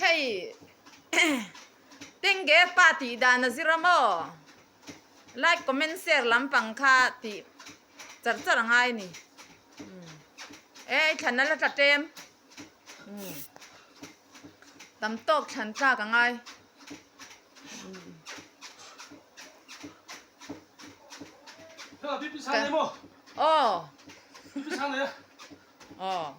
Hei Tenge pa tih dan a zir a maw like comment share lampang kha tih char char a ngai a ni e i thlan ala tla ṭem tam tawk thlan tlak a ngai aw. Ờ.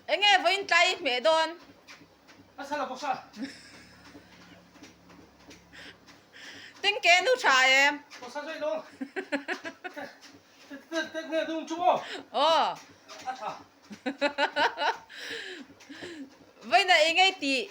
Eng nge vawiin tlai i hmeh dawn? Tin ke nu tha em? Ờ. Vawiin a eng nge tih?